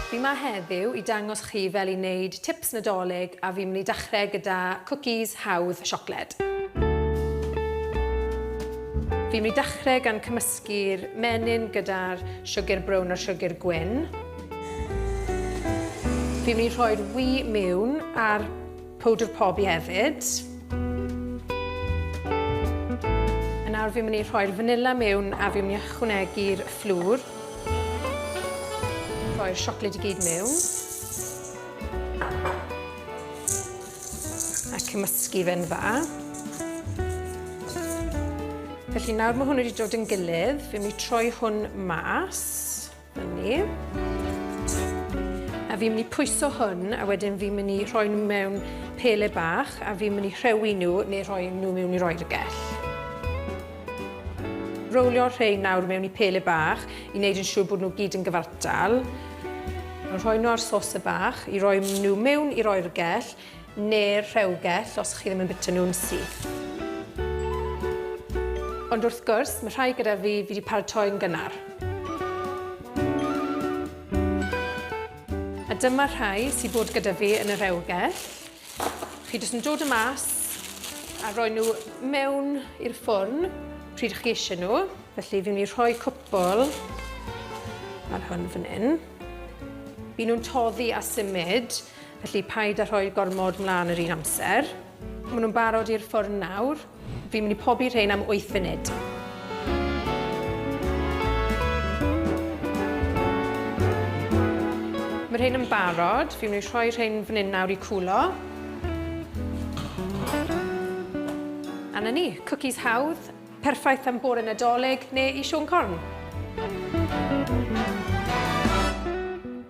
Fi 'ma heddiw i dangos chi fel i wneud tips Nadolig a fi'n mynd i dechrau gyda cwcis hawdd siocled. Fi'n mynd i dechrau gan cymysgu'r menyn gyda'r siwgr brown a'r siwgr gwyn. Fi'n mynd i rhoi'r wy miwn a'r Powdr pobi hefyd. A nawr fi'n mynd i rhoi'r fanila mewn a fi'n mynd i ychwanegu'r fflwr. Rhoi'r siocled i gyd mewn. A cymysgu fe'n dda. Felly nawr mae hwn wedi dod yn gilydd, fi'n mynd i troi hwn mas. Ni. A fi'n mynd i pwyso hwn a wedyn fi'n mynd i rhoi nhw mewn pele bach a fi'n mynd i rhewi nhw neu rhoi nhw mewn i'r oergell. Rowlio'r rhain nawr mewn i pele bach i wneud yn siŵr bod nhw gyd yn gyfartal. Rhoi nhw ar y bach i roi nhw mewn i'r oergell neu'r rhewgell os chi ddim yn bwyta nhw'n syth. Ond wrth gwrs, mae rhai gyda fi, fi wedi paratoi'n gynnar. A dyma rhai sydd bod gyda fi yn y rhewgell. Chi jyst yn dod y mas a rhoi nhw mewn i'r ffwrn pryd chi eisiau nhw. Felly fi'n mynd i rhoi cwpl ar hwn fan hyn. Byn nhw'n toddi a symud. Felly paid a rhoi gormod mlân yr un amser. Maen nhw'n barod i'r ffwrn nawr. Fi'n mynd i pobi rhein am 8 funud. Mae rhein yn barod. Fi'n mynd i rhoi rhein fan hyn nawr i cwlo. A na ni, cwcis hawdd, perffaith am bore Nadolig neu i Siôn Corn.